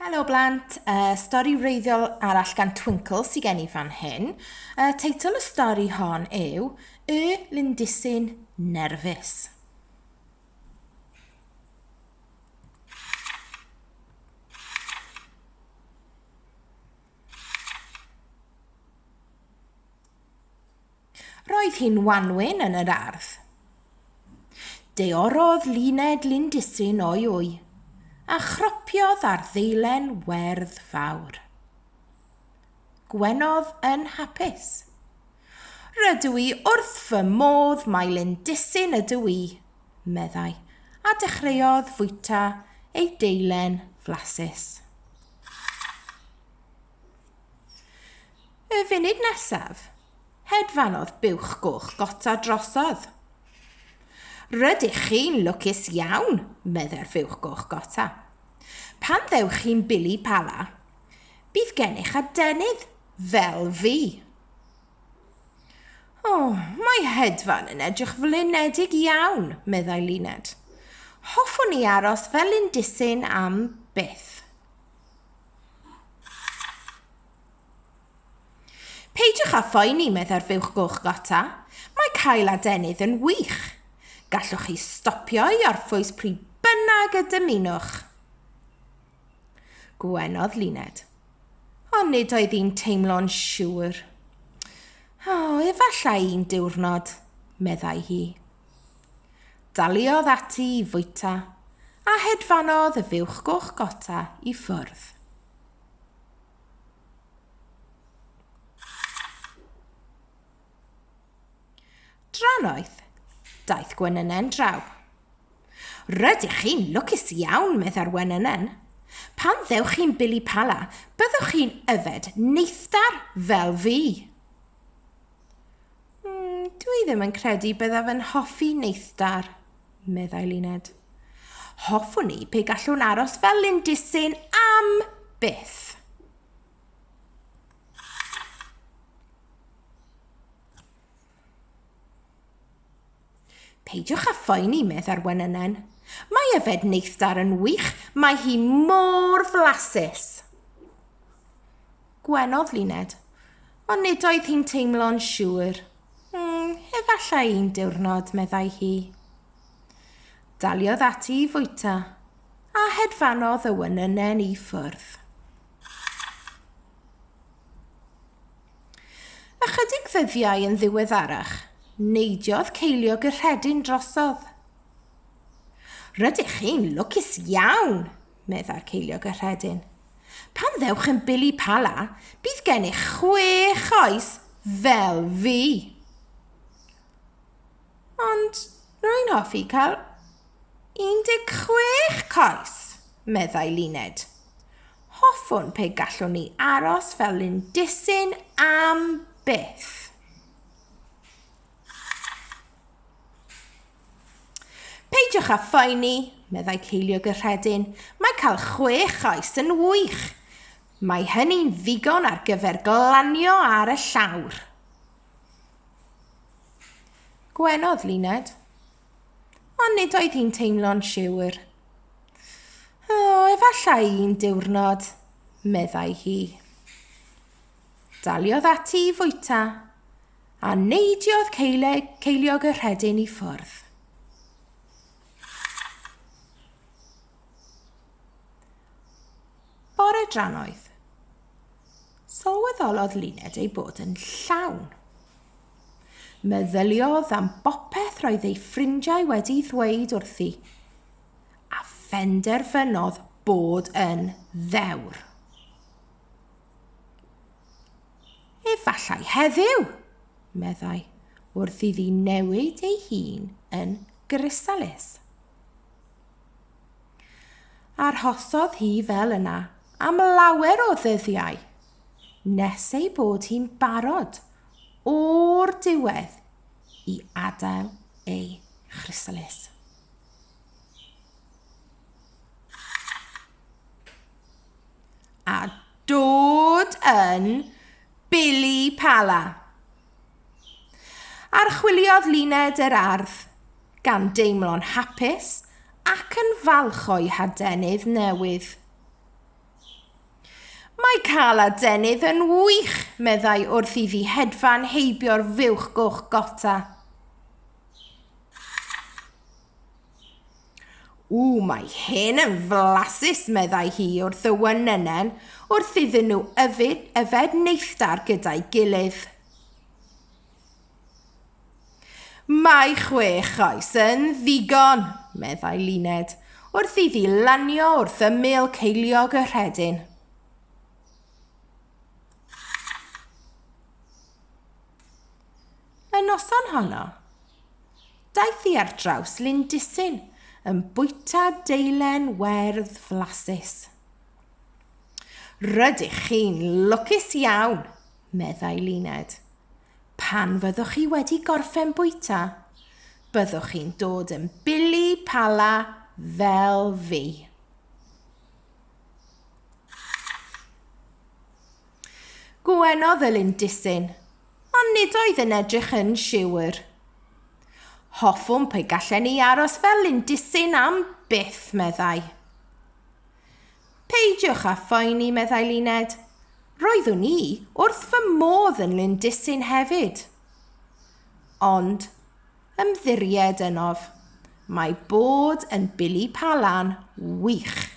Helo blant, uh, stori wreiddiol arall gan Twinkle sy'n gen i fan hyn. Uh, teitl y stori hon yw Y Lindisyn Nerfus. Roedd hi'n wanwyn yn yr ardd. Deorodd Luned Lindisyn o'i wy, a chropiodd ar ddeilen werdd fawr. Gwenodd yn hapus. Rydw i wrth fy modd mai Lindisyn ydw i, meddai, a dechreuodd fwyta ei deilen flasus. Y funud nesaf, hedfanodd buwch goch gota drosodd. Rydych chi'n lwcus iawn, meddai'r fuwch goch gota. Pan ddewch chi'n bili pala, bydd gennych adenydd fel fi. O, oh, mae hedfan yn edrych flinedig iawn, meddai Luned. Hoffwn i aros fel un disyn am byth. Peidiwch â phoeni, meddai'r fuwch goch gota. Mae cael adenydd yn wych. Gallwch chi stopio i orffwys pryd bynnag y dymunwch. Gwenodd Luned. Ond nid oedd hi'n teimlo'n siŵr. O, efallai un diwrnod, meddai hi. Daliodd ati i fwyta, a hedfanodd y fuwch goch gota i ffwrdd. Drannoeth, daeth Gwenynen draw. Rydych chi'n lwcus iawn, meddai'r Wenynen. Pan ddewch chi'n bili pala, byddwch chi'n yfed neithdar fel fi. Mm, dw i ddim yn credu byddaf yn hoffi neithdar, meddai Luned. Hoffwn i pe gallwn aros fel Lindisyn am byth. Peidiwch â phoeni, meddai'r wenynen. Mae yfed neithdar yn wych, mae hi mor flasus. Gwenodd Luned, ond nid oedd hi'n teimlo'n siŵr. Mm, efallai un diwrnod, meddai hi. Daliodd ati i fwyta, a hedfanodd y wenynen i ffwrdd. Ychydig ddyddiau yn ddiweddarach, neidiodd ceiliog y rhedyn drosodd. Rydych chi'n lwcus iawn, meddai'r ceiliog y rhedyn. Pan ddewch yn Billy Pala, bydd gennych chwech oes fel fi. Ond rwy'n hoffi cael 16 coes, meddai Luned. Hoffwn pe gallwn ni aros fel Lindisyn am byth. Peidiwch â phoeni, meddai Ceiliog y Rhedyn, mae cael chwech oes yn wych. Mae hynny'n ddigon ar gyfer glanio ar y llawr. Gwenodd Luned. Ond nid oedd hi'n teimlo'n siwr. O, efallai un diwrnod, meddai hi. Daliodd ati i fwyta, a neidiodd ceiliog y rhedyn i ffwrdd. Bore dran oedd. Sylweddolodd Luned ei bod yn llawn. Meddyliodd am bopeth roedd ei ffrindiau wedi ddweud wrthi, a phenderfynodd bod yn ddewr. Efallai heddiw, meddai, wrth iddi newid ei hun yn grisalis. Arhosodd hi fel yna am lawer o ddyddiau, nes ei bod hi'n barod o'r diwedd i adael ei chrysalis. A dod yn Billy Pala. Archwiliodd Luned yr ardd, gan deimlo'n hapus ac yn falch o'i hadenydd newydd. Mae cael adenydd yn wych, meddai wrth iddi hedfan heibio'r fuwch goch gota. Ww, mae hyn yn flasus, meddai hi wrth y wynynnen, wrth iddyn nhw yfed, yfed neithdar gyda'i gilydd. Mae chwech oes yn ddigon, meddai Luned, wrth iddi lanio wrth ymyl ceiliog y rhedyn. Y noson honno, daeth i ar draws Lindisyn yn bwyta deilen werdd flasus. Rydych chi'n lwcus iawn, meddai Luned. Pan fyddwch chi wedi gorffen bwyta, byddwch chi'n dod yn bili pala fel fi. Gwenodd y lindisyn, ond nid oedd yn edrych yn siwr. Hoffwn pe gallen ni aros fel lindisyn am byth, meddai. Peidiwch â phoeni, meddai Luned. Roeddwn i wrth fy modd yn Lindisyn hefyd. Ond, ymddiried ynof, mae bod yn Billy Palan wych.